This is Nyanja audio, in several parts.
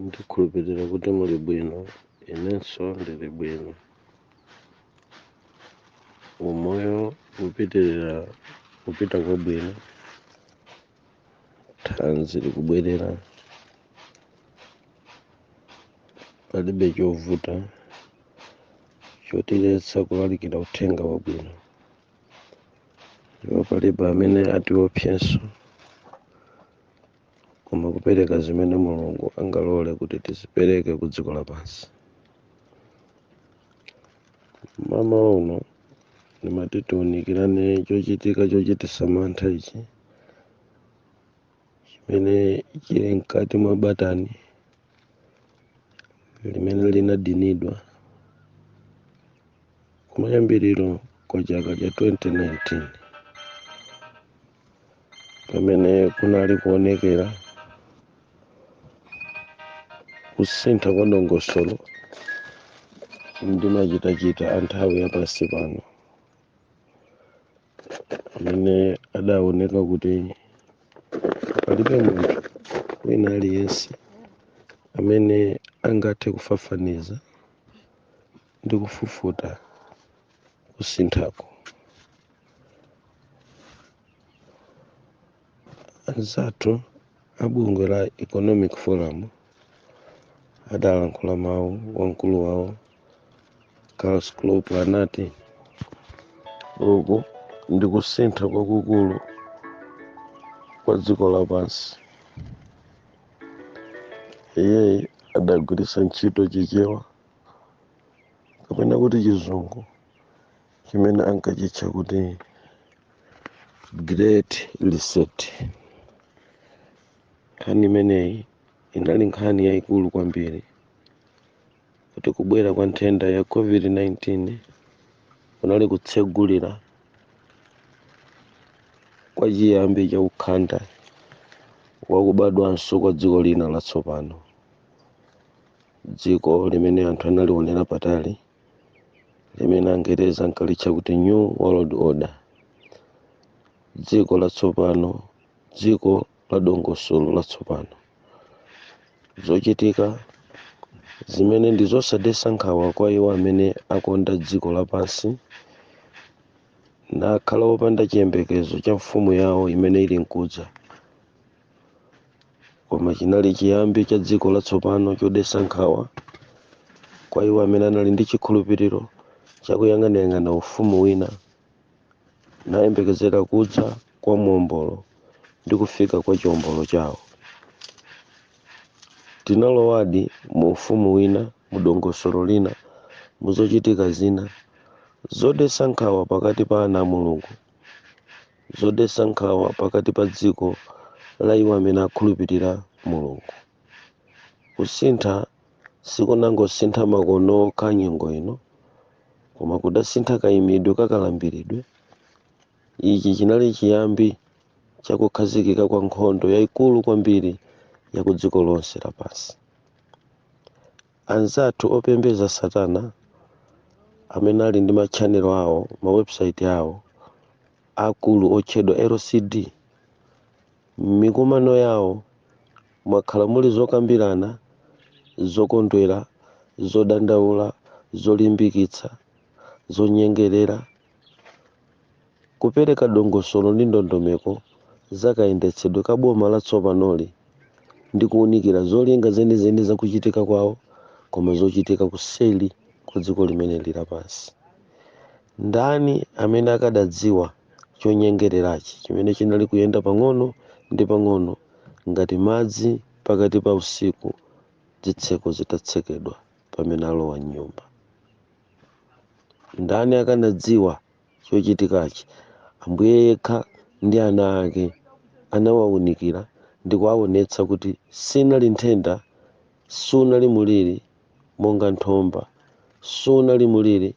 Ndikhulupirira kuti muli bwino, inenso ndili bwino. Umoyo ukupitirira kupita kwabwino, thanzi likubwerera, palibe chovuta chotiletsa kulalikira uthenga wabwino. Ndipo palibe amene atiopsanso koma kupereka zimene mulungu angalole kuti tizipereke ku dziko lapansi mmawa uno ndimati tiunikirane chochitika chochitisa mantha ichi chimene chili mkati mwa batani limene linadinidwa kumayambiriro kwa chaka cha 2019 pamene kunali kuonekera kusintha kwa dongosolo ndi machitachita a nthawi ya pansi pano amene adaoneka kuti palibe munthu wina aliyense amene angathe kufafaniza ndi kufufuta kusinthako anzathu a bungwe la economic forum adalankhula mawu wamkulu wawo klaus schwab anati uku ndi kusintha kwakukulu kwa dziko lapansi iyeyi adagwiritsa ntchito chichewa kapena kuti chizungu chimene ankachitcha kuti great reset nkhani imeneyi inali nkhani yayikulu kwambiri kuti kubwera kwa nthenda ya covid-19 kunali kutsegulira kwa chiyambi cha ukhanda wakubadwanso kwa dziko lina latsopano dziko limene anthu analionera patali limene angereza ankalitcha kuti new world order dziko latsopano dziko la dongosolo latsopano zochitika zimene ndi zosadetsa nkhawa kwa iwo amene akonda dziko lapansi nakhala opanda chiyembekezo cha mfumu yawo imene ili nkudza koma chinali chiyambi cha dziko latsopano chodetsa nkhawa kwa iwo amene anali ndi chikhulupiriro chakuyang'anayang'ana ufumu wina ndi kuyembekezera kudza kwa muombolo ndi kufika kwa chiombolo chawo tinalowadi mu ufumu wina mu dongosolo lina mu zochitika zina zodetsa nkhawa pakati pa ana a mulungu zodetsa nkhawa pakati pa dziko la iwo amene akhulupirira Mulungu. Kusintha sikunangosintha makono okha nyengo ino, koma kudasintha kaimidwe ka kalambiridwe. Ichi chinali chiyambi cha kukhazikika kwa nkhondo yaikulu kwambiri ya kudziko lonse lapansi. Anzathu opembedza Satana amene ali ndi matchanelo awo, mawebusaiti awo aakulu otchedwa LCD. M'mikumano yawo mwakhala muli zokambirana zokondwera, zodandaula, zolimbikitsa, zonyengerera. Kupereka dongosolo ndi ndondomeko za kayendetsedwe ka boma latsopanoli ndi kuunikira zolinga zenizeni za kuchitika kwawo koma zochitika kuseli kwa dziko limene lili pansi. Ndani amene akadadziwa chonyengererachi chimene chinali kuyenda pang'ono ndi pang'ono ngati madzi pakati pa usiku zitseko zitatsekedwa pamene alowa m'nyumba? Ndani akanadziwa chochitikachi? Ambuye yekha ndi ana ake anawaunikira ndi kuwaonetsa kuti sinali nthenda, sunali muliri monga nthomba, sunali muliri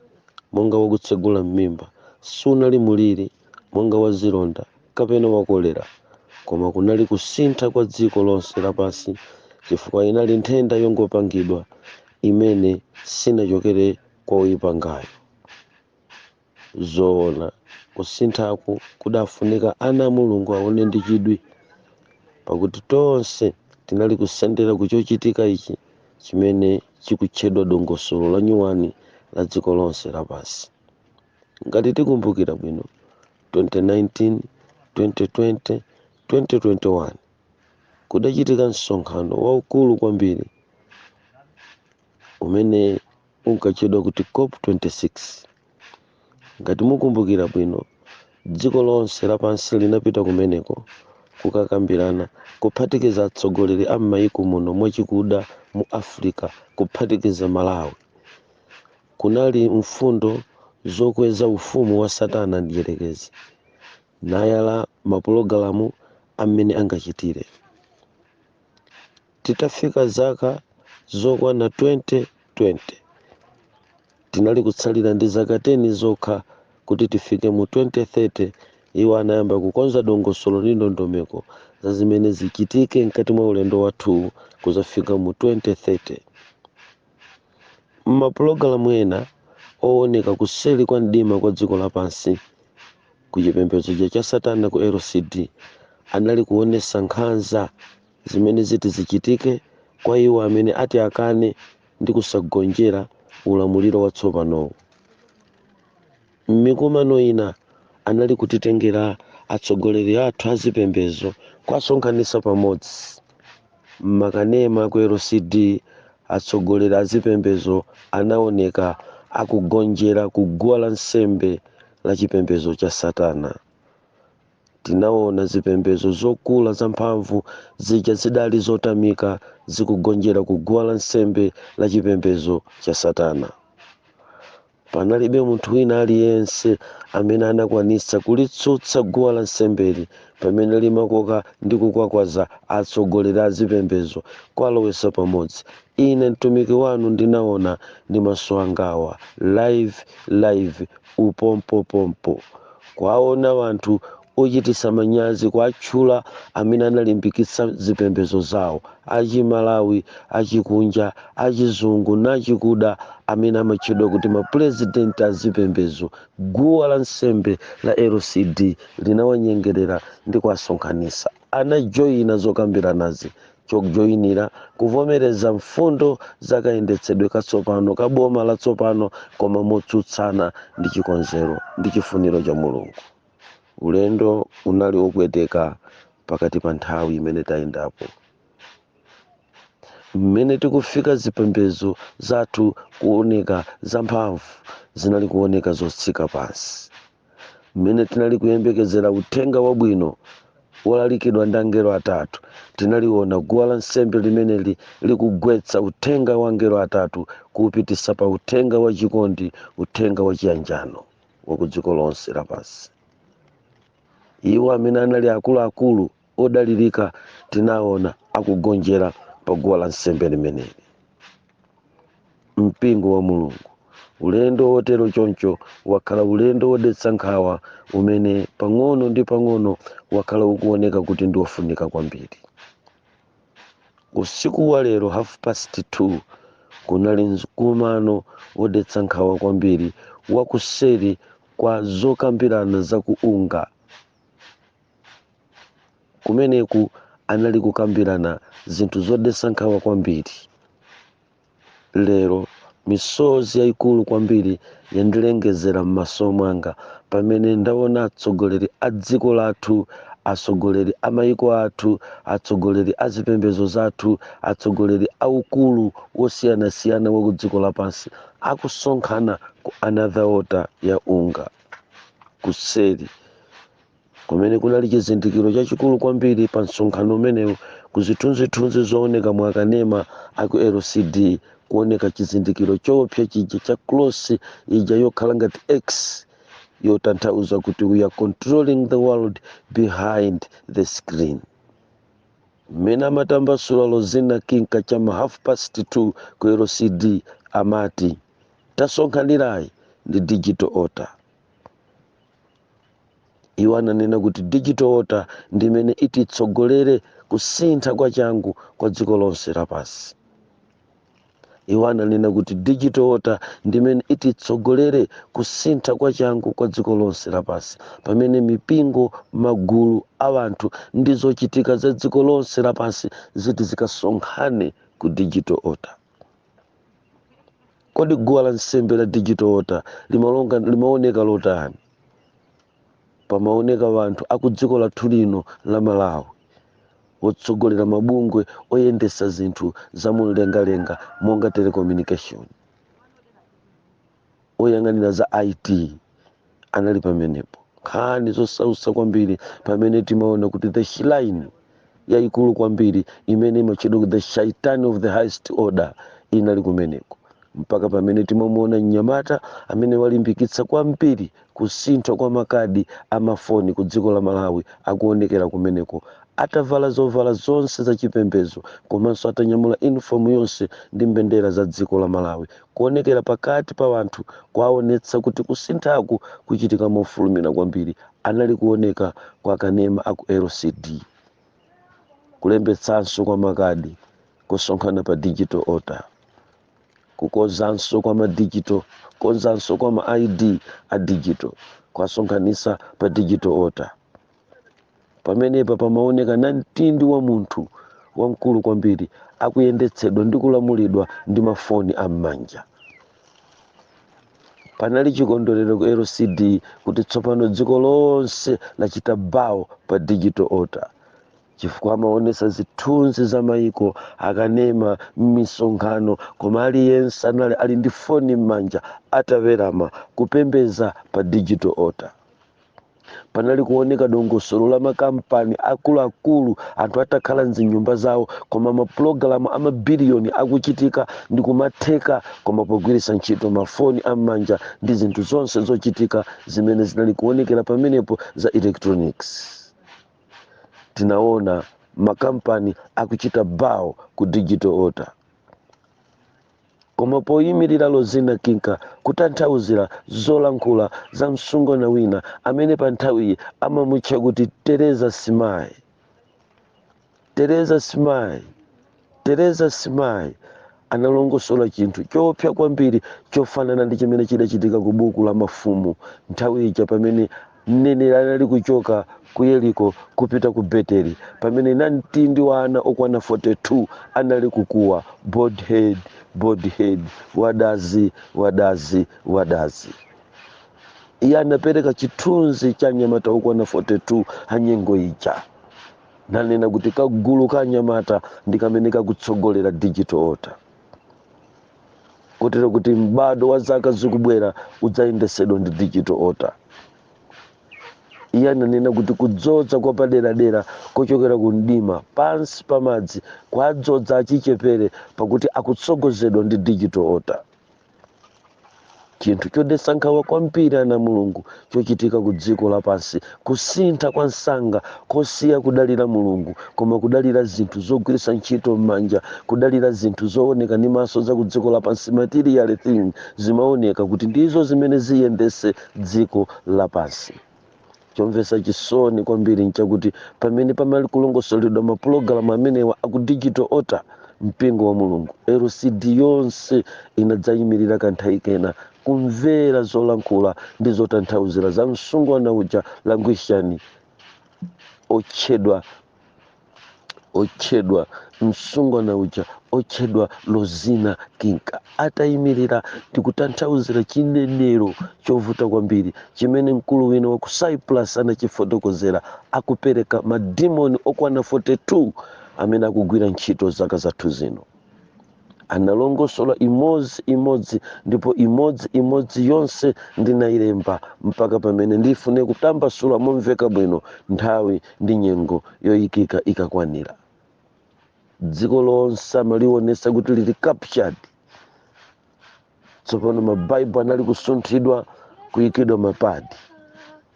monga wakutsegula m'mimba, sunali muliri monga wazilonda, kapena wa kolera, koma kunali kusintha kwa dziko lonse lapansi chifukwa inali nthenda yongopangidwa imene sinachokere kwa oyipangayo. Zoona, kusinthaku kudafunika ana a Mulungu aone ndi chidwi, pakuti tonse tinali kusendera ku chochitika ichi chimene chikutchedwa dongosolo lanyuwani la dziko lonse lapansi. ngati tikumbukira bwino 2019 2020 2021 kudachitika msonkhano waukulu kwambiri umene unkatchedwa kuti cop 26 ngati mukumbukira bwino dziko lonse lapansi linapita kumeneko kukakambirana kuphatikiza atsogoleri a m'mayiko muno mwachikuda mu africa kuphatikiza malawi Kunali mfundo zokweza ufumu wa Satana Mdyerekezi, nayala mapulogalamu a mmene angachitire. Titafika zaka zokwana 2020, tinali kutsalira ndi zaka 10 zokha kuti tifike mu 2030, iwo anayamba kukonza dongosolo ndi ndondomeko za zimene zichitike mkati mwa ulendo wathuwu kudzafika mu 2030. M'mapulogalamu ena ooneka kuseli kwa mdima kwa dziko lapansi ku chipembedzoja cha Satana ku LCD anali kuonesa nkhanza zimene ziti zichitike kwa iwo amene ati akane ndi kusagonjera ulamuliro watsopanowu. M'mikumano ina, anali kutitengera atsogoleri athu a zipembedzo kuwasonkhanitsa pamodzi. M'makanema a ku LCD, atsogoleri a zipembedzo anaoneka akugonjera ku guwa la nsembe la chipembedzo cha Satana. Tinaona zipembedzo zokula zamphamvu zija zidali zotamika zikugonjera ku guwa la nsembe la chipembedzo cha Satana. Panalibe munthu wina aliyense amene anakwanitsa kulitsutsa guwa la nsembeli pamene limakoka ndi kukwakwaza atsogoleri a zipembedzo kuwalowetsa pamodzi. Ine mtumiki wanu ndinaona ndi maso angawa, live live, upompopompo, kuwaona anthu ochitisa manyazi kuatchula amene analimbikitsa zipembezo zawo achimalawi achikunja achizungu nachikuda amene amatchedwa kuti mapulezidenti azipembezo guwa la nsembe la LCD linawanyengerera ndi kuwasonkhanisa anajoina zokambiranazi chojoinira kuvomereza mfundo za kayendetsedwe katsopano ka boma latsopano koma motsutsana ndi chikonzero ndi chifuniro cha mulungu. Ulendo unali wopweteka pakati pa nthawi imene tayendapo. Mmene tikufika zipembedzo zathu kuoneka zamphamvu zinali kuoneka zotsika pansi. Mmene tinali kuyembekezera uthenga wabwino wolalikidwa ndi angelo atatu, tinaliona guwa la nsembe limeneli likugwetsa uthenga wa angelo atatu kuupititsa pa uthenga wachikondi, uthenga wachiyanjano. wa ku dziko lonse lapansi iwo amene anali akuluakulu odalirika tinaona akugonjera pa guwa la nsembe limeneli mpingo wa mulungu ulendo wotero choncho wakhala ulendo wodetsa nkhawa umene pang'ono ndi pang'ono wakhala ukuoneka kuti ndi wofunika kwambiri Usiku wa lero half past 2 kunali mkumano wodetsa nkhawa kwambiri wakuseri kwa zokambirana za ku UNGA. Kumeneku anali kukambirana zinthu zodetsa nkhawa kwambiri. Lero, misozi yaikulu kwambiri yandilengezera m'maso mwanga pamene ndaona atsogoleri a dziko lathu, atsogoleri a mayiko athu, atsogoleri a zipembedzo zathu, atsogoleri a ukulu wosiyanasiyana wa kudziko lapansi akusonkhana ku another altar ya UNGA, kuseri kumene kunali chizindikiro chachikulu kwambiri pa msonkhano umenewu ku zithunzithunzi zooneka mu akanema a ku lcd kuoneka chizindikiro choopsa chija cha cross ija yokhala ngati x yotanthauza kuti we are controlling the world behind the screen mmene amatambasula lozina kinka cha ma half past 2 ku lcd amati tasonkhanirayi ndi digital altar iwo ananena kuti digital altar ndi imene ititsogolere kusintha kwa changu kwa dziko lonse lapansi iwo ananena kuti digital altar ndi imene ititsogolere kusintha kwa changu kwa dziko lonse lapansi pamene mipingo magulu a anthu ndi zochitika za dziko lonse lapansi ziti zikasonkhane ku digital altar Kodi guwa la nsembe la digital altar limaoneka lotani? Pamaoneka wanthu akudziko lathu lino la Malawi, wotsogolera mabungwe oyendesa zinthu za munlengalenga monga telecommunication, oyang'anira za IT, anali pamenepo nkhani zosausa kwambiri pamene timaona kuti the shrine yayikulu kwambiri imene imatchedwa kuti the shaitan of the highest order inali kumeneko mpaka pamene timamuona mnyamata amene walimbikitsa kwambiri kusintha kwa makadi amafoni ku dziko la malawi akuonekera kumeneko atavala zovala zonse za chipembedzo komanso atanyamula uniform yonse ndi mbendera za dziko la malawi Kuonekera pakati pa anthu kwaonetsa kuti kusinthaku kuchitika mofulumira kwambiri. Anali kuoneka kwa kanema a ku LCD, kulembetsanso kwa makadi kosonkhana pa digital altar, kukonzanso kwa ma digital kukonzanso kwa ma ID a digital kwasonkhanitsa pa digital altar. pamenepa pamaoneka namtindi wa munthu wamkulu kwambiri akuyendetsedwa ndi kulamulidwa ndi mafoni am'manja panali chikondwerero ku locd kuti tsopano dziko lonse lachita bawo pa digital altar chifukwa amaonesa zithunzi za maiko akanema m'misonkhano koma aliyense anali ali ndi foni m'manja atawerama kupembeza pa digital altar panali kuoneka dongosolo la makampani akuluakulu anthu atakhala mzinyumba zawo koma mapulogalamu amabiliyoni akuchitika ndi kumatheka koma pogwiritsa ntchito mafoni am'manja ndi zinthu zonse zochitika zimene zinali kuonekera pamenepo za electronics tinaona makampani akuchita bawo ku digital altar koma poyimirira Lozina Kinka kutanthauzira zolankhula za msungwana wina amene pa nthawiyi amamutcha kuti Teresa Simai. Teresa Simai, Teresa Simai analongosola chinthu choopsa kwambiri chofanana ndi chimene chidachitika ku buku la Mafumu nthawi ija pamene Mneneri anali kuchoka ku Yeriko kupita ku Beteli pamene namtindi wa ana okwana 42 anali kukuwa, Bald head, bald head, wadazi, wadazi, wadazi. Iye anapereka chithunzi cha anyamata okwana 42 a nyengo ija nanena kuti kagulu ka anyamata ndi kamene kakutsogolera digital altar. kotero kuti m'bado wa zaka zikubwera udzayendesedwa ndi digital altar iye ananena kuti kudzodza kwa paderadera kochokera ku mdima pansi pa madzi kwadzodza achichepere pakuti akutsogozedwa ndi digital altar chinthu chodetsa nkhawa kwambiri ana a mulungu chochitika ku dziko lapansi kusintha kwa msanga kosiya kudalira mulungu koma kudalira zinthu zogwiritsa ntchito m'manja kudalira zinthu zooneka ndi maso za ku dziko lapansi material things zimaoneka kuti ndizo zimene ziyendetse dziko lapansi chomvetsa chisoni kwambiri nchakuti pamene panali kulongosoledwa mapulogalamu amenewa aku digital altar mpingo wa mulungu locd yonse inadzayimirira kanthawi kena kumvera zolankhula ndi zotanthauzira za msungwana uja languishani otchedwa otchedwa msungwana uja otchedwa lozina kinka atayimirira ndikutanthauzira chinenero chovuta kwambiri chimene mkulu wina wa ku cyprus anachifotokozera akupereka madimoni okwana 42 amene akugwira ntchito zaka zathu zino analongosola imodzi imodzi ndipo imodzi imodzi yonse ndinayilemba mpaka pamene ndifune kutambasula momveka bwino nthawi ndi nyengo yoyikika ikakwanira dziko lonse amaliwonesa kuti lili captured tsopano mabaibulo anali kusunthidwa kuyikidwa mapadi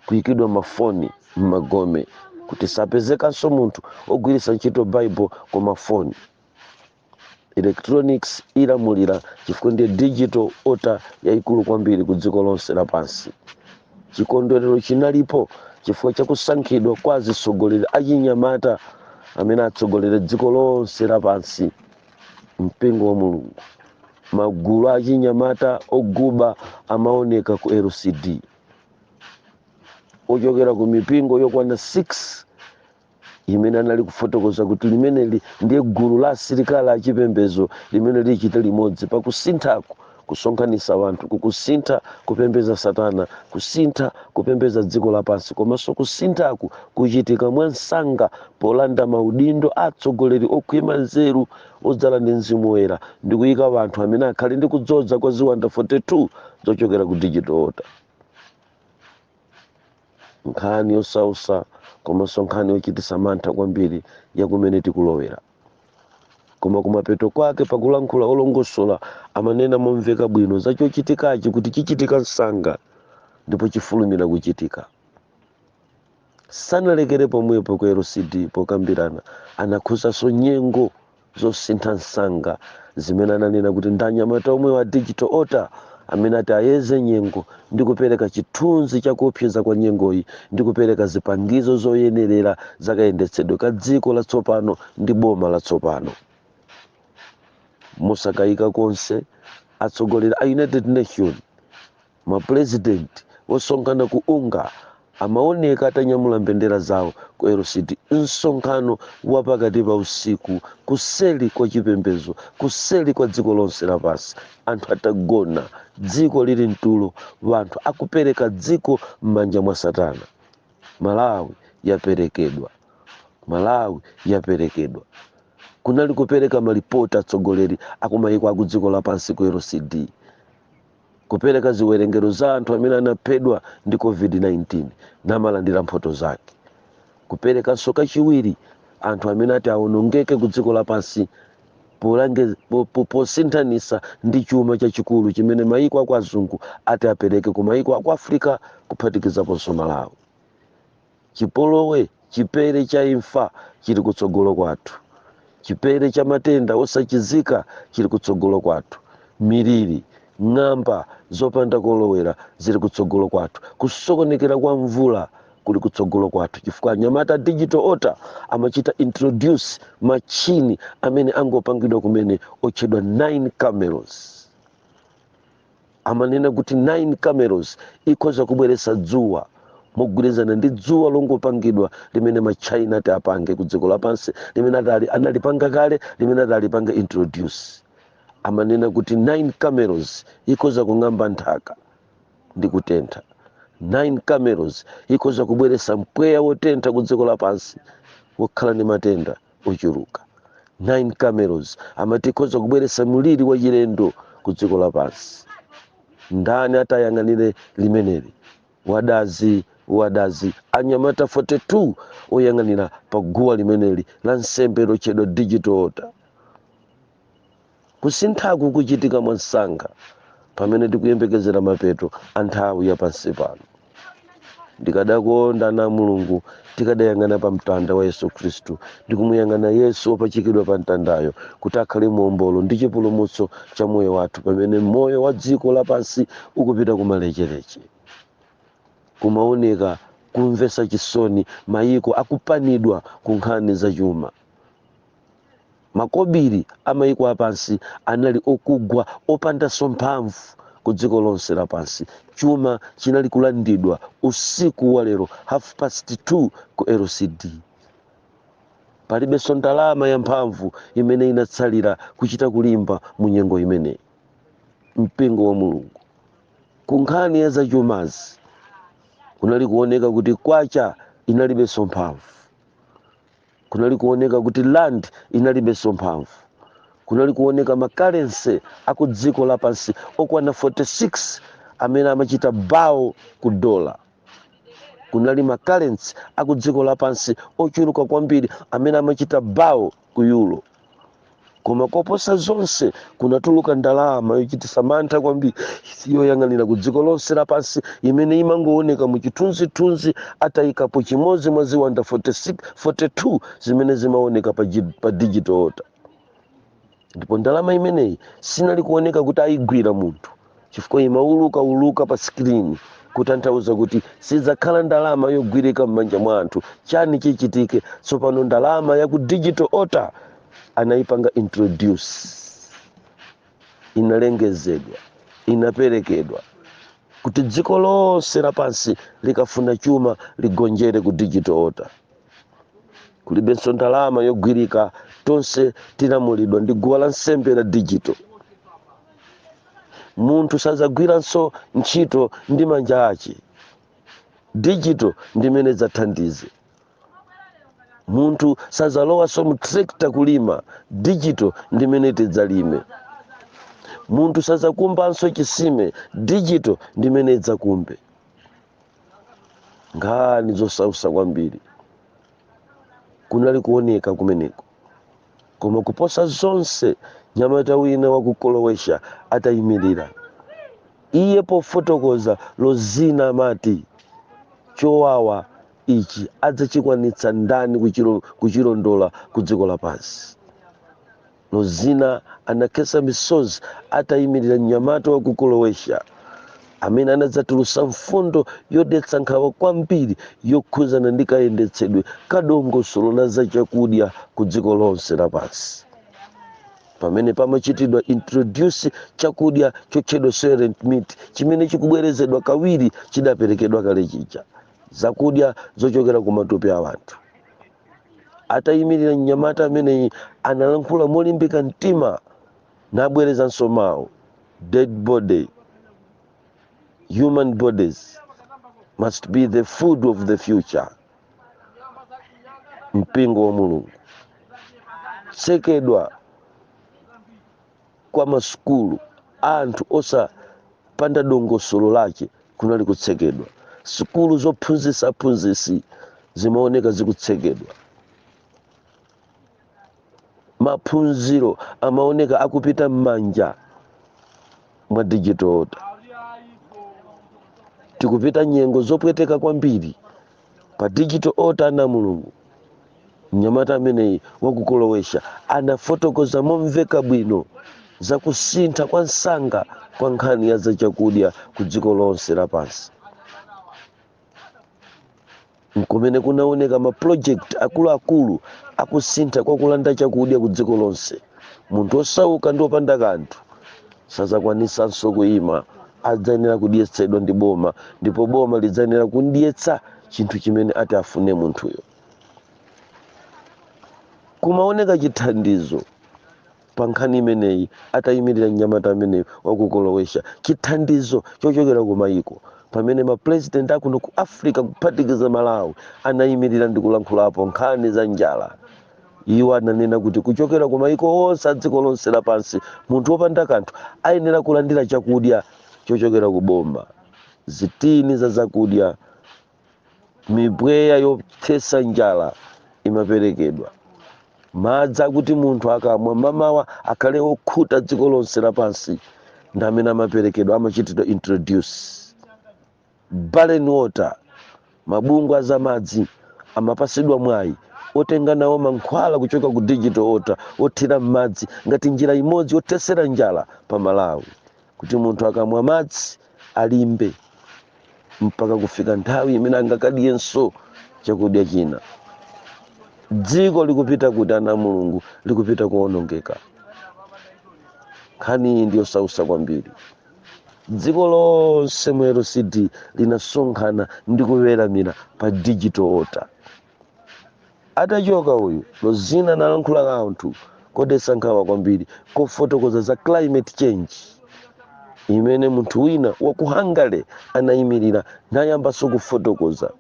kuyikidwa mafoni m'magome kuti sapezekanso munthu ogwiritsa ntchito baibulo koma foni electronics ilamulira chifukwa ndiye digital altar yayikulu kwambiri ku dziko lonse lapansi chikondwerero chinalipo chifukwa cha kusankhidwa kwa azitsogoleri achinyamata amene atsogolere dziko lonse lapansi mpingo wa mulungu magulu achinyamata oguba amaoneka ku lcd ochokera ku mipingo yokwana 6 imene anali kufotokoza kuti limeneli ndiye gulu la asilikali achipembedzo limene lichite limodzi pakusinthaku kusonkhanitsa wanthu kukusintha kupembeza satana kusintha kupembeza dziko lapansi komanso kusinthaku kuchitika mwansanga polanda maudindo atsogoleri okhwima nzeru odzala ndi mzimu woyera ndi kuyika wanthu amene akhale ndi kudzodza kwa ziwanda 42 zochokera ku digital altar nkhani yosautsa komanso nkhani yochitisa mantha kwambiri ya kumene tikulowera koma kumapeto kwake pakulankhula olongosola amanena momveka bwino za chochitikachi kuti chichitika msanga ndipo chifulumira kuchitika sanalekere pomwepo ku lcd pokambirana anakhuzanso nyengo zosintha msanga zimene ananena kuti ndi anyamata omwewo a digital altar amene ati ayeze nyengo ndi kupereka chithunzi cha kuopseza kwa nyengoyi ndi kupereka zipangizo zoyenerera zakayendetsedwe ka dziko latsopano ndi boma latsopano mosakayika konse atsogoleri a united nations Mapulezidenti osonkhana ku Unga amawoneka atanyamula mbendera zawo ku LCD, msonkhano wa pakati pa usiku, kuseri kwa chipembedzo, kuseri kwa dziko lonse lapansi, anthu atagona, dziko liri mtulo, wanthu akupereka dziko mmanja mwa Satana. Malawi yaperekedwa. Malawi yaperekedwa. Kunali kupereka malipoti atsogoleri akumayiko akudziko lapansi ku LCD. kupereka ziwerengero za anthu amene anaphedwa ndi covid-19 namalandira mphoto zake kuperekanso kachiwiri anthu amene ati awonongeke ku dziko lapansi polange- po- po- posinthanisa ndi chuma chachikulu chimene mayiko aku azungu ati apereke ku mayiko aku africa kuphatikizaponso malawi chipolowe chipere cha imfa chili kutsogolo kwathu chipere cha matenda osachizika chili kutsogolo kwathu miliri ng'amba zopanda kolowera zili kutsogolo kwathu kusokonekera kwa mvula kuli kutsogolo kwathu chifukwa anyamata digital altar amachita introduce machini amene angopangidwa kumene otchedwa 9 cameras amanena kuti 9 cameros ikhoza kubweretsa dzuwa mogwirizana ndi dzuwa longopangidwa limene ma china ati apange ku dziko lapansi limene atali analipanga kale limene ati alipange introduce amanena kuti 9 cameros ikhoza kung'amba nthaka ndi kutentha 9 cameros ikhoza kubweretsa mpweya wotentha ku dziko lapansi wokhala ndi matenda ochuluka 9 cameros amati ikhoza kubweretsa mliri wachilendo ku dziko lapansi ndani ati ayang'anire limeneli wadazi wadazi anyamata 42 oyang'anira pa guwa limeneli la nsembe lotchedwa digital altar Kusinthaku kuchitika mwansanga pamene tikuyembekezera mapeto a nthawi ya pansi pano. Ndikadakonda ana a Mulungu tikadayang'ana pa mtanda wa Yesu Khristu ndi kumuyang'ana Yesu wopachikidwa pa mtandayo kuti akhale muombolo ndi chipulumutso cha moyo wathu pamene moyo wa dziko lapansi ukupita kumalecheleche. Kumaoneka kumvetsa chisoni mayiko akupanidwa ku nkhani zachuma. Makobiri a mayiko apansi anali okugwa, opandanso mphamvu ku dziko lonse lapansi. Chuma chinali kulandidwa usiku wa lero half past 2 ku LCD. Palibenso ndalama ya mphamvu imene inatsalira kuchita kulimba mu nyengo imeneyi. Mpingo wa Mulungu ku nkhani ya zachumazi kunali kuoneka kuti kwacha inalibenso mphamvu. kunali kuoneka kuti rand inalibenso mphamvu kunali kuoneka makarensi aku dziko lapansi okwana 46 amene amachita bawo ku dola kunali makarensi aku dziko lapansi ochuluka kwambiri amene amachita bawo ku euro koma koposa zonse kunatuluka ndalama yochititsa mantha kwambiri yoyang'anira ku dziko lonse lapansi imene imangooneka mu chithunzithunzi atayikapo chimodzi mwa ziwanda 46 42 zimene zimaoneka pa digital altar ndipo ndalama imeneyi sinali kuoneka kuti ayigwira munthu chifukwa imaulukauluka pa screen kutanthauza kuti sidzakhala ndalama yogwirika m'manja mwa anthu chani chichitike tsopano ndalama ya ku digital altar anayipanga introduce inalengezedwa inaperekedwa kuti dziko lonse lapansi likafuna chuma ligonjere ku digital altar kulibenso ndalama yogwirika tonse tilamulidwa ndi guwa la nsembe la digital munthu sadzagwiranso ntchito ndi manja ake digital ndi imene idzathandize munthu sadzalowanso mu tractor kulima digital ndi imene idzalime munthu sadzakumbanso chisime digital ndi imene idzakumbe nkhani zosautsa kwambiri kunali kuoneka kumeneko koma kuposa zonse mnyamata wina wa ku Croatia atayimirira iye pofotokoza Rosina amati chowawa ichi adzachikwanitsa ndani kuchilo- kuchilondola ku dziko lapansi Rosina anakhetsa misozi ataimirira mnyamata wa ku Croatia amene anadzatulutsa mfundo yodetsa nkhawa kwambiri yokhudzana ndi kayendetsedwe ka dongosolo la zachakudya ku dziko lonse lapansi. Pamene pamachitidwa introduce chakudya chotchedwa soylent meat chimene chikubwerezedwa kawiri chidaperekedwa kale chija, zakudya zochokera ku matupi a anthu, atayimirira mnyamata ameneyi analankhula molimbika mtima nabwerezanso mawu dead body human bodies must be the food of the future mpingo wa mulungu tsekedwa kwa masukulu a anthu osapanda dongosolo lake kunali kutsekedwa sukulu zophunzitsa aphunzitsi zimaoneka zikutsekedwa maphunziro amaoneka akupita m'manja mwa digital altar tikupita nyengo zopweteka kwambiri pa digital altar ana a mulungu mnyamata ameneyi wa ku Croatia anafotokoza momveka bwino za kusintha kwa msanga kwa nkhani ya zachakudya ku dziko lonse lapansi nkumene kunaoneka mapulojekiti akuluakulu akusintha kwa kulanda chakudya ku dziko lonse munthu wosauka ndi wopanda kanthu sadzakwanitsanso kuima adzayenera kudyetsedwa ndi boma ndipo boma lidzayenera kumdyetsa chinthu chimene ati afune munthuyo kumaoneka chithandizo pa nkhani imeneyi atayimirira mnyamata ameneyi wa ku Kolowesha chithandizo chochokera ku mayiko pamene mapurezidenti akuno ku africa kuphatikiza malawi anayimirira ndi kulankhulapo nkhani za njala iwo ananena kuti kuchokera ku mayiko onse a dziko lonse lapansi munthu wopanda kanthu ayenera kulandira chakudya chochokera ku boma zitini za zakudya mipweya yothetsa njala imaperekedwa madzi akuti munthu akamwa mamawa akhale okhuta dziko lonse lapansi ndi amene amaperekedwa amachitidwa introduce Blantyre Water, Mabungwe a zamadzi amapasidwa mwayi otenga nawo mankhwala kuchoka ku Digital Altar othira m'madzi ngati njira imodzi yothesera njala pa Malawi kuti munthu akamwa madzi alimbe mpaka kufika nthawi imene angakadyenso chakudya china. Dziko likupita kuti ana a Mulungu? Likupita kowonongeka. Nkhani iyi ndi yosausa kwambiri. dziko lonse mu lcd linasonkhana ndi kuweramira pa digital altar atachoka uyu lozina analankhula kanthu kodetsa nkhawa kwambiri kofotokoza za climate change imene munthu wina wa ku hungary anayimirira nayambanso kufotokoza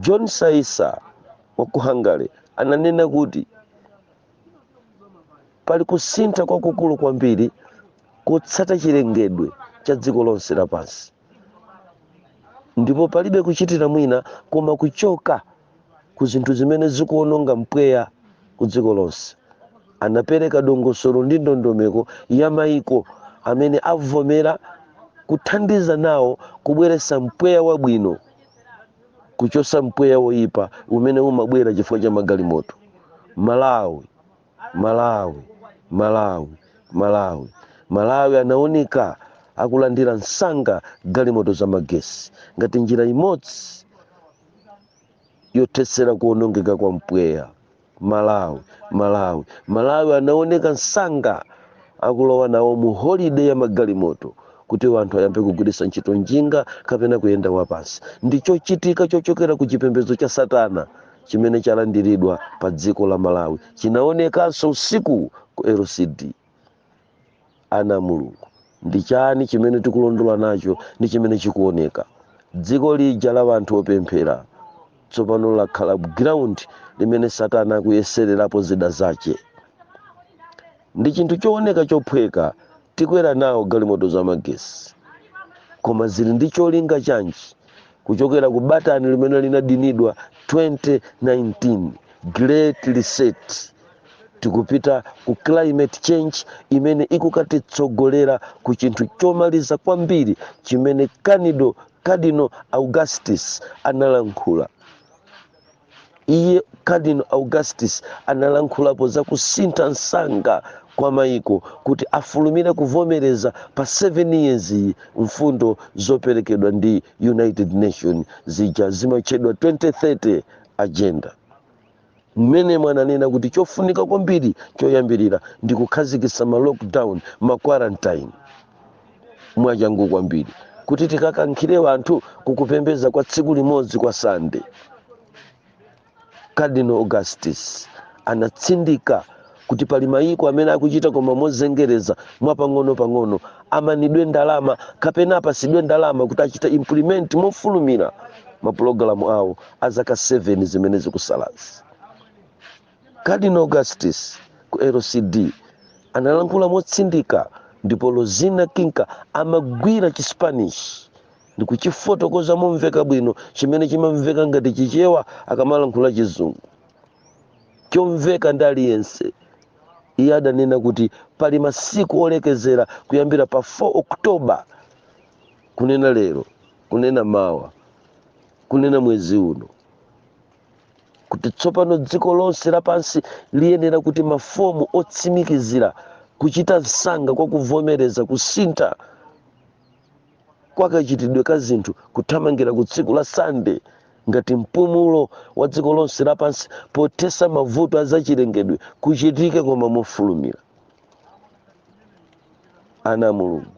john saisa wa ku hungary ananena kuti Pali kusintha kwakukulu kwambiri kotsata chilengedwe cha dziko lonse lapansi, ndipo palibe kuchitira mwina koma kuchoka ku zinthu zimene zikuwononga mpweya ku dziko lonse. Anapereka dongosolo ndi ndondomeko ya maiko amene avomera kuthandiza nawo kubweretsa mpweya wabwino kuchotsa mpweya woipa umene umabwera chifukwa cha magalimoto. Malawi. malawi malawi malawi malawi anaoneka akulandira msanga galimoto za magesi ngati njira imodzi yothetsera kuonongeka kwa mpweya malawi malawi malawi anaoneka msanga akulowa nawo mu holiday ya magalimoto kuti wanthu ayambe kugwiritsa ntchito njinga kapena kuyenda wapansi ndi chochitika chochokera ku chipembedzo cha satana chimene chalandiridwa pa dziko la malawi chinaonekanso usiku ku lcd ana a mulungu ndi chani chimene tikulondola nacho ndi chimene chikuoneka dziko lija la anthu opemphera tsopano lakhala ground limene satana akuyesererapo zida zache ndi chinthu chooneka chophweka tikwera nawo galimoto za magesi koma zili ndi cholinga chanji kuchokera ku batani limene linadinidwa 2019 great reset tikupita ku climate change imene ikukatitsogolera ku chinthu chomaliza kwambiri chimene Cardinal augustus analankhula iye cardinal augustus analankhulapo za kusintha msanga kwa maiko kuti afulumire kuvomereza pa 7 years iyi mfundo zoperekedwa ndi united nation zija zimatchedwa 2030 agenda mmene ananena kuti chofunika kwambiri choyambirira ndi kukhazikitsa ma lockdown ma quarantine mwachangu kwambiri kuti tikakankhire anthu kukupembeza kwa tsiku limodzi kwa sande cardinal augustus anatsindika kuti pali mayiko amene akuchita koma mozengereza mwapang'ono-pang'ono amanidwe ndalama kapena apasidwe ndalama kuti achite implement mofulumira mapulogalamu awo a zaka 7 zimene zikusalazi Cardinal Augustus ku LCD analankhula motsindika ndipo Lozina Kinka amagwira Chispanish ndi kuchifotokoza momveka bwino chimene chimamveka ngati Chichewa akamalankhula Chizungu chomveka ndi aliyense. Iye adanena kuti pali masiku olekezera kuyambira pa 4 October kunena lero, kunena mawa, kunena mwezi uno. kuti tsopano dziko lonse lapansi liyenera kuti mafomu otsimikizira kuchita msanga kwa kuvomereza kusintha kwa kachitidwe ka zinthu kuthamangira ku tsiku la sande ngati mpumulo wa dziko lonse lapansi pothesa mavuto a zachilengedwe kuchitike koma mofulumira ana a mulungu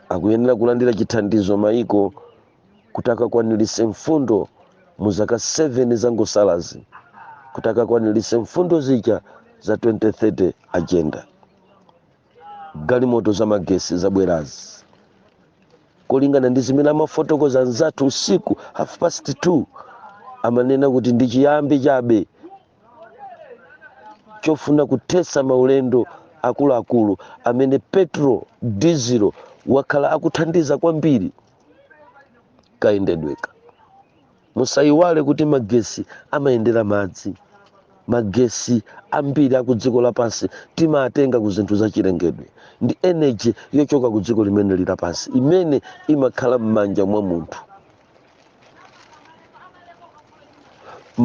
akuyenera kulandira chithandizo maiko kuti akakwaniritse mfundo mu zaka 7 zangosalazi kuti akakwaniritse mfundo zija za 2030 agenda galimoto za magesi zabwerazi molingana ndi zimene amafotokoza anzathu usiku half past 2 amanena kuti ndi chiyambi chabe chofuna kuthetsa maulendo akuluakulu amene petrol dizilo wakhala akuthandiza kwambiri kayendedweka musayiwale kuti magesi amayendera madzi magesi ambiri aku dziko lapansi timatenga ku zinthu zachilengedwe ndi energy yochoka ku dziko limene lilapansi imene imakhala m'manja mwa munthu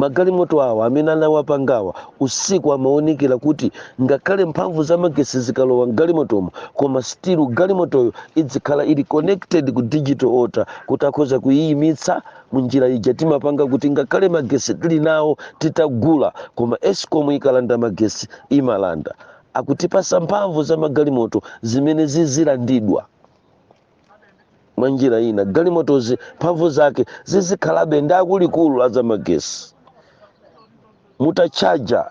magalimoto awa amene anawapangawa usiku amaonekera kuti ngakhale mphamvu za magetsi zikalowa mgalimotomo koma still galimotoyo idzikhala ili connected ku digital order kuti akhoza kuyiyimitsa munjira ija timapanga kuti ngakhale magetsi tili nawo titagula koma escom ikalanda magetsi imalanda akutipasa mphamvu za magalimoto zimene zizilandidwa mwa njira ina galimotozi mphamvu zake zizikhalabe ndi akuluakulu a zamagesi mutatchaja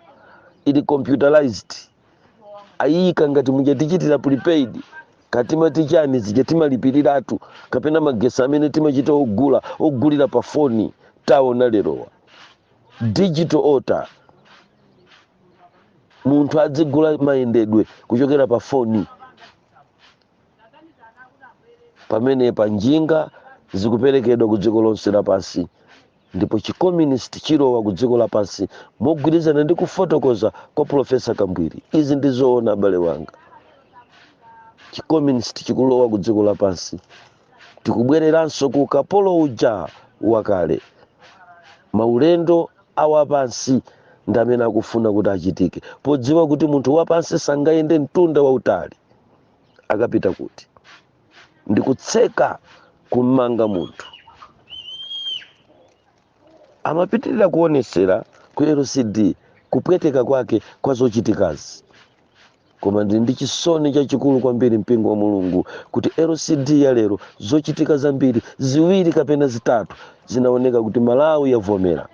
ili computerized ayiyika ngati muja tichitira prepaid katimati chiani zija timalipiliratu kapena magesi amene timachita ogula ogulira pa foni taona lerowa digital order munthu adzigula mayendedwe kuchokera pa foni pamene pa njinga zikuperekedwa ku dziko lonse lapansi ndipo chicommunist chilowa ku dziko lapansi mogwirizana ndi kufotokoza kwa profesa kambwiri izi ndi zoona abale wanga chicommunist chikulowa ku dziko lapansi tikubwereranso ku ukapolo uja wakale maulendo awapansi ndi amene akufuna kuti achitike podziwa kuti munthu wapansi sangayende mtunda wautali akapita kuti ndikutseka kummanga munthu amapitirira kuonesera ku lcd kupweteka kwake kwa zochitikazi koma ndili ndi chisoni chachikulu kwambiri mpingo wa mulungu kuti lcd ya lero zochitika zambiri ziwiri kapena zitatu zinaoneka kuti malawi yavomera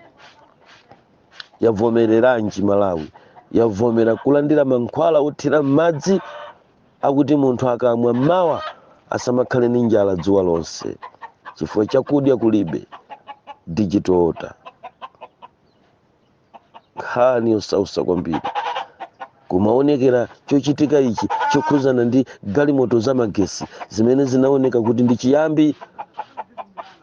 yavomereranji malawi yavomera kulandira mankhwala othira m'madzi akuti munthu akamwa mmawa asamakhale ndi njala dzuwa lonse chifukwa chakudya kulibe digital order nkhani yosausa kwambiri Kumaonekera chochitika ichi chokhudzana ndi galimoto za magesi zimene zinaoneka kuti ndi chiyambi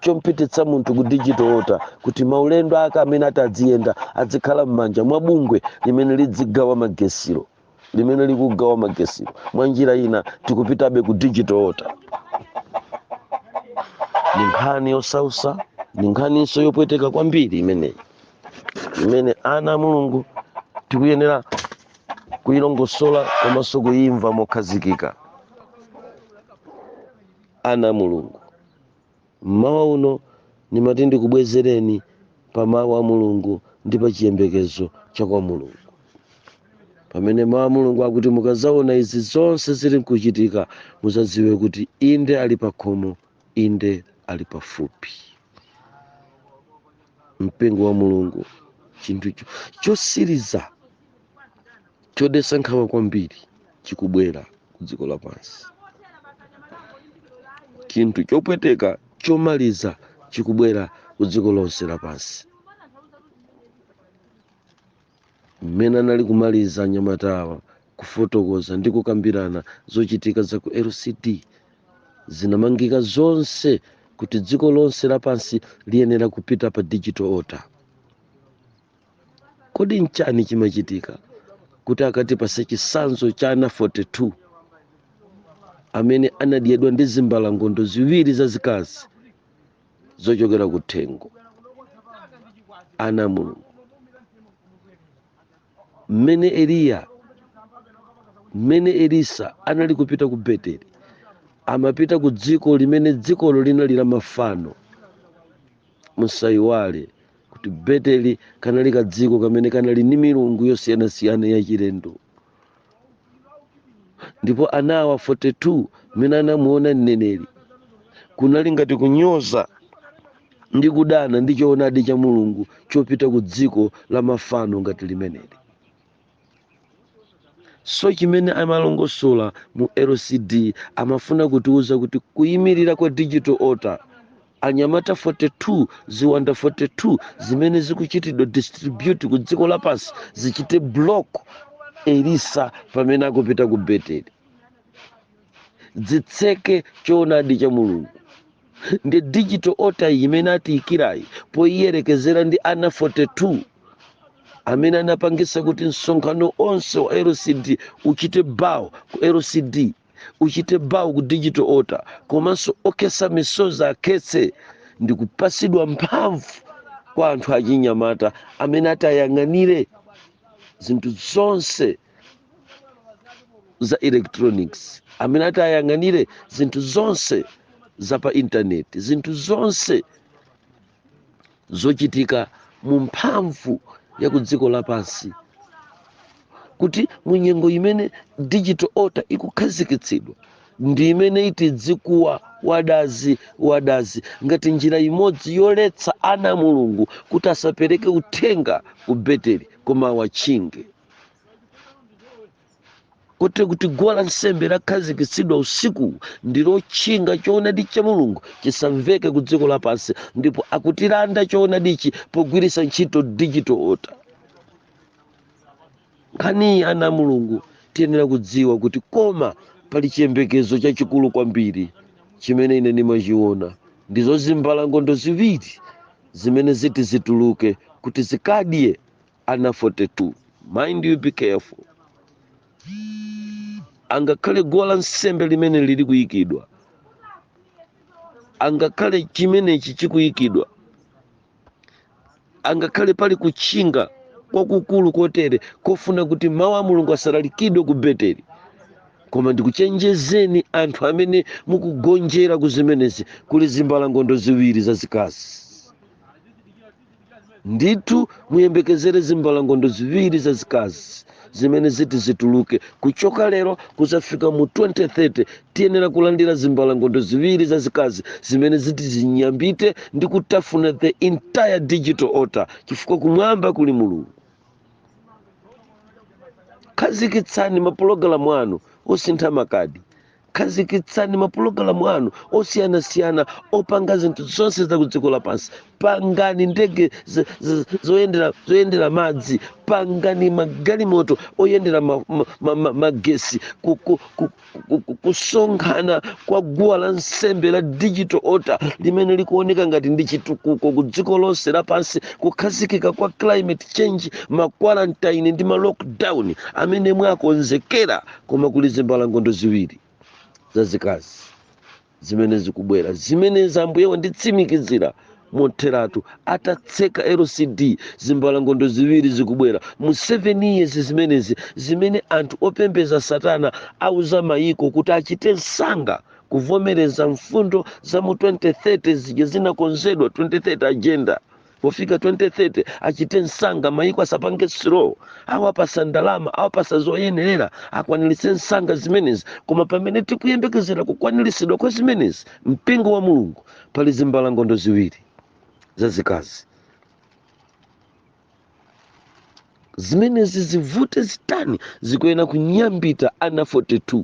chompititsa munthu ku digital order kuti maulendo ake amene ati adziyenda adzikhala m'manja mwa bungwe limene lidzigawa magesilo limene likugawa magesilo mwa njira ina tikupitabe ku digital order ni nkhani yosausa ni nkhaninso yopweteka kwambiri imeneyi imene ana a mulungu tikuyenera kuyilongosola komanso kuyimva mokhazikika ana a mulungu mmawa uno ndimati ndikubwezereni pa mawu a mulungu ndi pa chiyembekezo cha kwa mulungu pamene mawu a mulungu akuti mukazaona izi zonse zili nkuchitika muzadziwe kuti inde ali pakhomo Inde, ali pafupi. Mpingo wa Mulungu, chinthu cho- chosiriza chodesa nkhawa kwambiri chikubwera ku dziko lapansi. Chinthu chopweteka chomaliza chikubwera ku dziko lonse lapansi. Mmene anali kumaliza anyamatawa kufotokoza ndi kukambirana zochitika za ku LCD, zinamangika zonse kuti dziko lonse lapansi liyenera kupita pa digital altar. Kodi nchani chimachitika kuti akatipase chisanzo cha ana 42 amene anadyedwa ndi zimbalangondo ziwiri zazikazi zochokera ku thengo ana a mulungu mmene eliya mmene elisa anali kupita ku beteli amapita ku dziko limene dzikolo linali la mafano musayiwale kuti beteli kanali kadziko kamene kanali ndi milungu yosiyanasiyana yachilendo ndipo ana awa 42 mmene anamuona mneneri kunali ngati kunyoza ndi kudana ndi choonadi cha mulungu chopita ku dziko la mafano ngati limeneli so chimene amalongosola mu lcd amafuna kutiuza kuti kuyimirira kwa digital altar anyamata 42 ziwanda 42 zimene zikuchitidwa distribute ku dziko lapansi zichite block elisa pamene akupita ku beteli zitseke choonadi cha mulungu ndi digital altar iyi imene atiyikirayi poyiyerekezera ndi ana 42 amene anapangisa kuti msonkhano onse wa lcd uchite bow ku lcd uchite bow ku digital altar komanso okhetsa misozi akhetse ndi kupatsidwa mphamvu kwa anthu achinyamata amene atayang'anire zinthu zonse za electronics amene atayang'anire zinthu zonse za pa intaneti zinthu zonse zochitika mu mphamvu ya ku dziko lapansi kuti mu nyengo imene digital altar ikukhazikitsidwa ndi imene iti dzikuwa wadazi wadazi ngati njira imodzi yoletsa ana a mulungu kuti asapereke uthenga ku beteli koma awatchinge kotero kuti guwa la nsembe lakhazikitsidwa usiku ndi lotchinga choonadi cha mulungu chisamveke ku dziko lapansi ndipo akutilanda choonadichi pogwiritsa ntchito digital altar nkhaniyi ana a mulungu tiyenera kudziwa kuti koma pali chiyembekezo chachikulu kwambiri chimene ine ndimachiona ndizo zimbalangondo ziwiri zimene ziti zituluke kuti zikadye ana 42 mind you be careful angakhale guwa la nsembe limene lili kuyikidwa angakhale chimenechi chikuyikidwa angakhale pali kutchinga kwakukulu kotere kofuna kuti mawu a mulungu asalalikidwe ku beteli koma ndikuchenjezeni anthu amene mukugonjera ku zimenezi kuli zimbalangondo ziwiri zazikazi ndithu muyembekezere zimbalangondo ziwiri zazikazi zimene ziti zituluke kuchoka lero kuzafika mu 2030 tiyenera kulandira zimbalangondo ziwiri zazikazi zimene ziti zinyambite ndi kutafuna the entire digital order chifukwa kumwamba kuli mulungu khazikitsani mapulogalamu anu osintha makadi khazikitsani mapulogalamu anu osiyanasiyana opanga zinthu zonse za kudziko lapansi pangani ndege z- z- zoyendera zoyendera madzi pangani magalimoto oyendera ma- ma- ma- ma- magesi ku- ku- ku- ku- ku- kusonkhana kwa guwa la nsembe la digital altar limene likuoneka ngati ndi chitukuko ku dziko lonse lapansi kukhazikika kwa climate change makwarantine ndi ma lockdown amene mwawakonzekera koma kuli zimbalangondo ziwiri zazikazi zimene zikubwera zimenezi ambuye wanditsimikizira motheratu atatseka lcd zimbalangondo ziwiri zikubwera mu 7 years zimenezi zimene anthu opembeza satana awauza mayiko kuti achite msanga kuvomereza mfundo za mu 2030 zija zinakonzedwa 2030 agenda pofika 2030 achite msanga mayiko asapange slow awapasa ndalama awapasa zoyenerera akwaniritse msanga zimenezi koma pamene tikuyembekezera kukwaniritsidwa kwa zimenezi mpingo wa mulungu pali zimbalangondo ziwiri zazikazi zimenezi zivute zitani zikuyenera kunyambita ana 42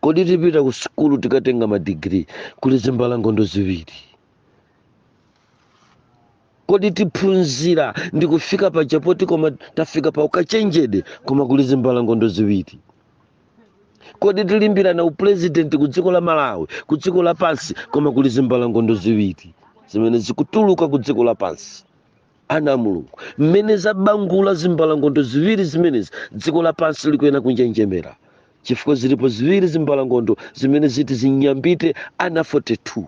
kodi tipita ku sukulu tikatenga madigiri kuli zimbalangondo ziwiri kodi tiphunzira ndi kufika paja poti koma tafika pa ukachenjede koma kuli zimbalangondo ziwiri kodi tilimbirana upulezidenti ku dziko la malawi ku dziko lapansi koma kuli zimbalangondo ziwiri zimene zikutuluka ku dziko lapansi ana a mulungu mmene zabangula zimbalangondo ziwiri zimenezi dziko lapansi likuyena kunjenjemera chifukwa zilipo ziwiri zimbalangondo zimene ziti zinyambite ana 42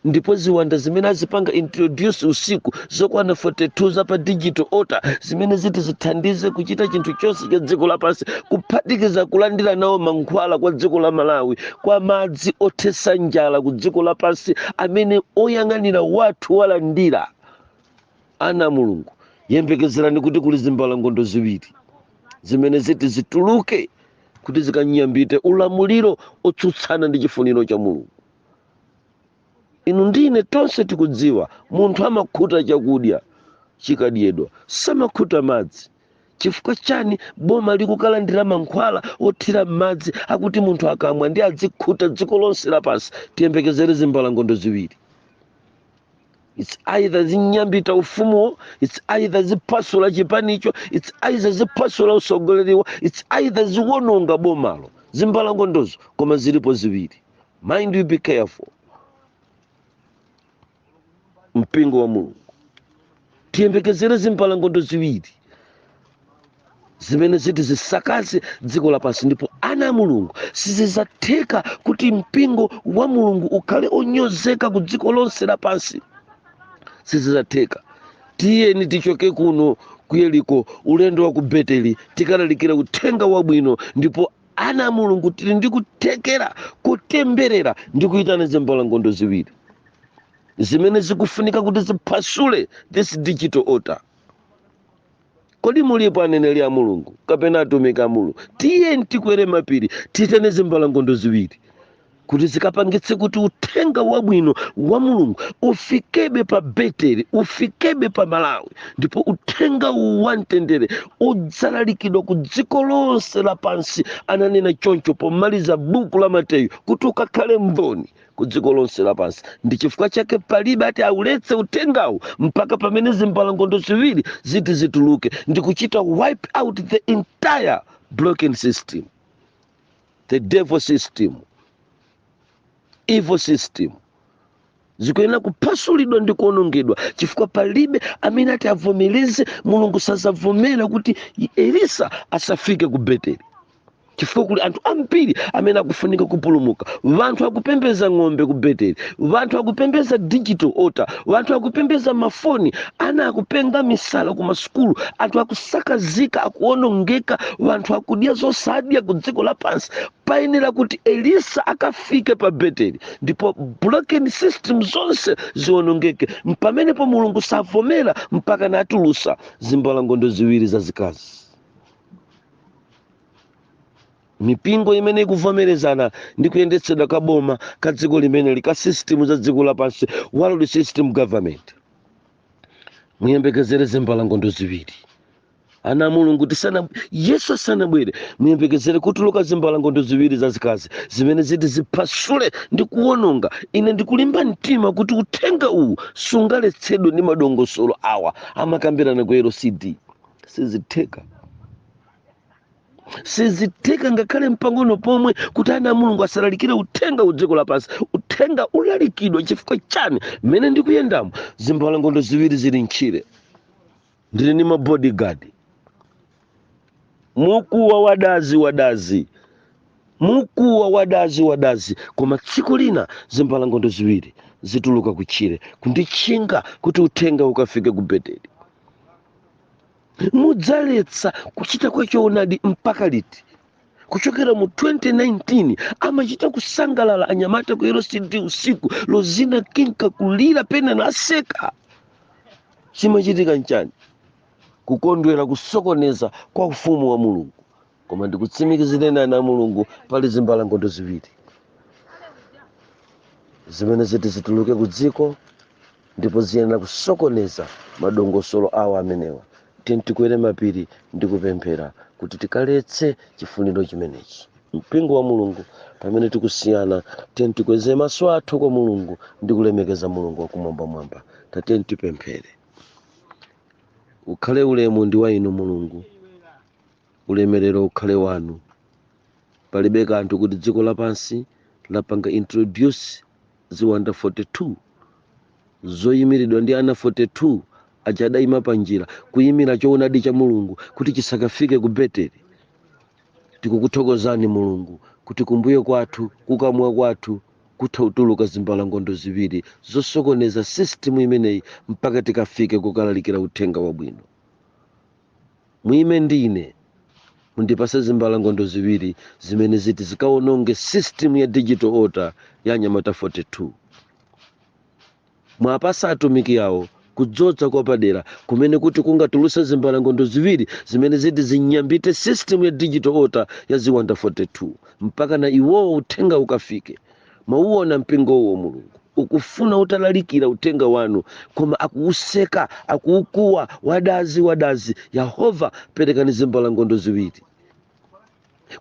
ndipo ziwanda zimene azipanga introduce usiku zokwana 42 za pa digital altar zimene ziti zithandize kuchita chinthu chonse cha dziko lapansi kuphatikiza kulandira nawo mankhwala kwa dziko la malawi kwa madzi othetsa njala ku dziko lapansi amene oyang'anira wathu walandira ana a mulungu yembekezerani kuti kuli zimbalangondo ziwiri zimene ziti zituluke kuti zikanyambite ulamuliro otsutsana ndi chifuniro cha mulungu inu ndi ine tonse tikudziwa munthu amakhuta chakudya chikadyedwa samakhuta madzi chifukwa chani boma likukalandira mankhwala othira m'madzi akuti munthu akamwa ndi adzikhuta dziko lonse lapansi tiyembekezere zimbalangondo ziwiri its either zinyambita ufumuwo its either ziphasula chipanicho its either ziphasula usogoleriwo its either ziononga bomalo zimbalangondozo koma zilipo ziwiri mind you be careful mpingo wa mulungu tiyembekezere zimbalangondo ziwiri zimene ziti zisakaze dziko lapansi ndipo ana a mulungu sizizatheka kuti mpingo wa mulungu ukhale onyozeka ku dziko lonse lapansi sizizatheka tiyeni tichoke kuno ku yeriko ulendo wa ku beteli tikalalikira uthenga wabwino ndipo ana a mulungu tili ndi kuthekera kotemberera ndi kuyitana zimbalangondo ziwiri zimene zikufunika kuti ziphwasule this digital order kodi mulipo aneneri a mulungu kapena atumiki a mulungu tiyeni tikwere mapiri tiyitane zimbalangondo ziwiri kuti zikapangitse kuti uthenga wabwino wa mulungu ufikebe pa beteli ufikebe pa malawi ndipo uthenga uwu wa mtendere udzalalikidwa ku dziko lonse lapansi ananena choncho pomaliza buku la mateyu kuti ukakhale mboni ku dziko lonse lapansi ndi chifukwa chake palibe ati auletse uthengawu mpaka pamene zimbalangondo ziwiri ziti zituluke ndi kuchita wipe out the entire blocking system the devil system evil system zikuyenera kuphasulidwa ndi kuonongedwa chifukwa palibe amene ati avomereze mulungu sazavomera kuti elisa asafike ku beteli chifukwa kuli anthu ambiri amene akufunika kupulumuka wanthu akupembeza ng'ombe ku beteli wanthu akupembeza digital altar wanthu akupembeza mafano ana akupenga misala ku masukulu anthu akusakazika akuonongeka wanthu akudya zosadya ku dziko lapansi payenera kuti elisa akafike pa beteli ndipo broken system zonse zionongeke pamenepo mulungu savomera mpaka natulusa zimbalangondo ziwiri zazikazi mipingo imene ikuvomerezana ndi kuyendetsedwa ka boma ka dziko limeneli ka system za dziko lapansi world system of government muyembekezere zimbalangondo ziwiri ana a mulungu tisana yesu asanabwere muyembekezere kutuluka zimbalangondo ziwiri zazikazi zimene ziti ziphasule ndi kuwononga ine ndikulimba mtima kuti uthenga uwu sungaletsedwe ndi madongosolo awa amakambirana ku lcd sizitheka sizitheka ngakhale mpang'ono pomwe kuti ana a mulungu asalalikire uthenga ku dziko lapansi uthenga ulalikidwa chifukwa chani mmene ndikuyendamo zimbalangondo ziwiri zili mtchire ndili ndi mabodyguard mukuwa wadazi wadazi mukuwa wadazi wadazi koma tsiku lina zimbalangondo ziwiri zituluka kutchire kunditchinga kuti uthenga ukafike ku beteli mudzaletsa kuchita kwa choonadi mpaka liti kuchokera mu 2019 amachita kusangalala anyamata ku lcd usiku lozina kinka kulira pena naseka chimachitika nchani kukondwera kusokoneza kwa ufumu wa mulungu koma ndikutsimikizireni ana a mulungu pali zimbalangondo ziwiri zimene ziti zituluke ku dziko ndipo ziyenera kusokoneza madongosolo awo amenewa tiyeni tikwere mapiri ndi kupemphera kuti tikaletse chifuniro chimenechi mpingo wa mulungu pamene tikusiyana tiyeni tikweze maso athu kwa mulungu ndi kulemekeza mulungu wakumwambamwamba tatiyeni tipemphere ukhale ulemu ndi wa inu mulungu ulemerero ukhale wanu palibe kanthu kuti dziko lapansi lapanga introduce ziwanda 42 zoyimiridwa ndi ana 42 aja adayima panjira kuyimitsa choonadi cha mulungu kuti chisakafike ku beteli tikukuthokozani mulungu kuti kumbuyo kwathu kukamwa kwathu kutha kutuluka zimbalangondo ziwiri zosokoneza sisitimu imeneyi mpaka tikafike kukalalikira uthenga wabwino Muime ndi ine, mundipase zimbalangondo ziwiri zimene ziti zikawononge system ya digital altar ya anyamata 42. Muwapase atumiki awa kudzodza kwapadera kumene kuti kungatuluse zimbalangondo ziwiri zimene ziti zinyambite system ya digital altar ya ziwanda 42 mpaka na iwowo uthenga ukafike mwauona mpingo uwo mulungu ukufuna utalalikira uthenga wanu koma akuwuseka akuwukuwa wadazi wadazi yehova perekani zimbalangondo ziwiri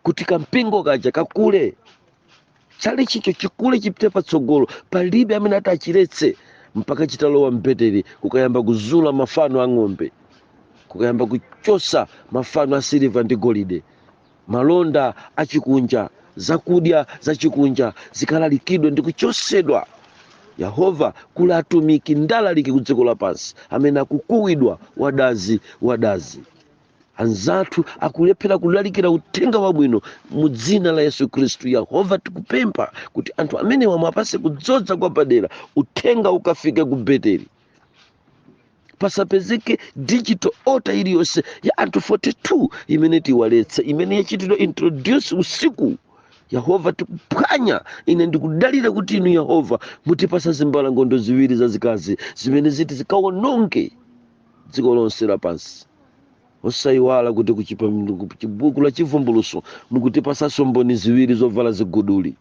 kuti kampingo kaja kakule tchalitchicho chikule chipite patsogolo palibe amene ati achiletse mpaka chitalowa mbeteri kukayamba kuzula mafano a ng'ombe kukayamba kuchotsa mafano a siliva ndi golide Malonda achikunja, zakudya zachikunja zikalalikidwe ndi kuchotsedwa. Yehova, kuli atumiki ndi alaliki ku dziko lapansi amene akukuwidwa wadazi, wadazi. Anzathu akulephera kulalikira uthenga wabwino mu dzina la Yesu Khristu. Yehova, tikupempha kuti anthu amenewa muwapatse kudzodza kwapadera, uthenga ukafike ku Beteli. pasapezeke digital order iliyonse ya anthu 42 imene itiwaletse imene yachitidwa introduce usiku yehova tikuphwanya ine ndikudalira kuti inu yehova mutipatsa zimbalangondo ziwiri zazikazi zimene ziti zikawononge dziko lonse lapansi osayiwala kuti ku chibuku la chivumbulutso mukutipatsanso mboni ziwiri zovala ziguduli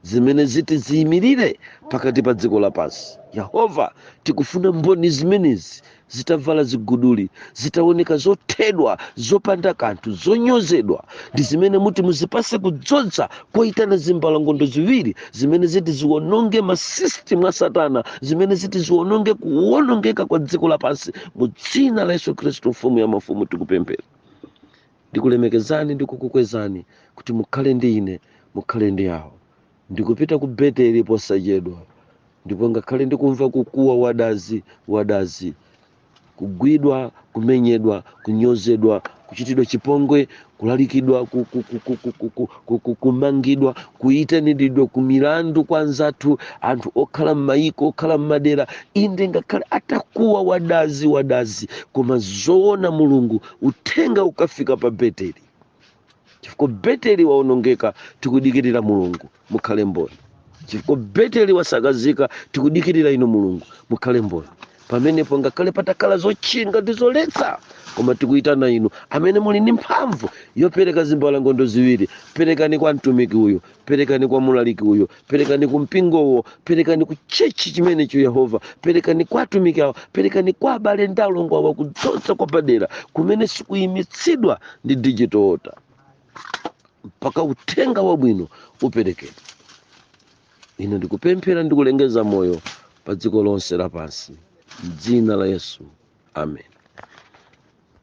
zimene ziti ziyimirire pakati pa dziko lapansi yehova tikufuna mboni zimenezi zitavala ziguduli zitaoneka zothedwa zopanda kanthu zonyozedwa ndi zimene muti muzipatse kudzodza koyitana zimbalangondo ziwiri zimene ziti ziwononge masisitimu a satana zimene ziti ziwononge kuwonongeka kwa dziko lapansi mu dzina la yesu khristu mfumu ya mafumu tikupemphera ndikulemekezani ndi kukukwezani kuti mukhale ndi ine mukhale ndi awo ndikupita ku beteli posachedwa ndipo ngakhale ndikumva kukuwa wadazi wadazi kugwidwa kumenyedwa kunyozedwa kuchitidwa chipongwe kulalikidwa ku- kumangidwa kuyitaniridwa ku milandu kwa anzathu anthu okhala m'mayiko okhala m'madera inde ngakhale atakuwa wadazi wadazi koma zoona mulungu uthenga ukafika pa beteli chifukwa beteli waonongeka tikudikirira mulungu mukhale mboni chifukwa beteli wasakazika tikudikirira inu mulungu mukhale mboni pamenepo ngakhale patakhala zotchinga ndi zoletsa koma tikuyitana inu amene muli ndi mphamvu yopereka zimbalangondo ziwiri perekani kwa mtumiki uyo perekani kwa mulaliki uyo perekani ku mpingowo perekani ku tchetchi chimenecho yehova perekani kwa atumiki awo perekani kwa abale ndi alongo awo kudzodza kwapadera kumene sikuyimitsidwa ndi digital order mpaka uthenga wabwino uperekedwe ine ndikupemphera ndi kulengeza moyo pa dziko lonse lapansi m'dzina la yesu amen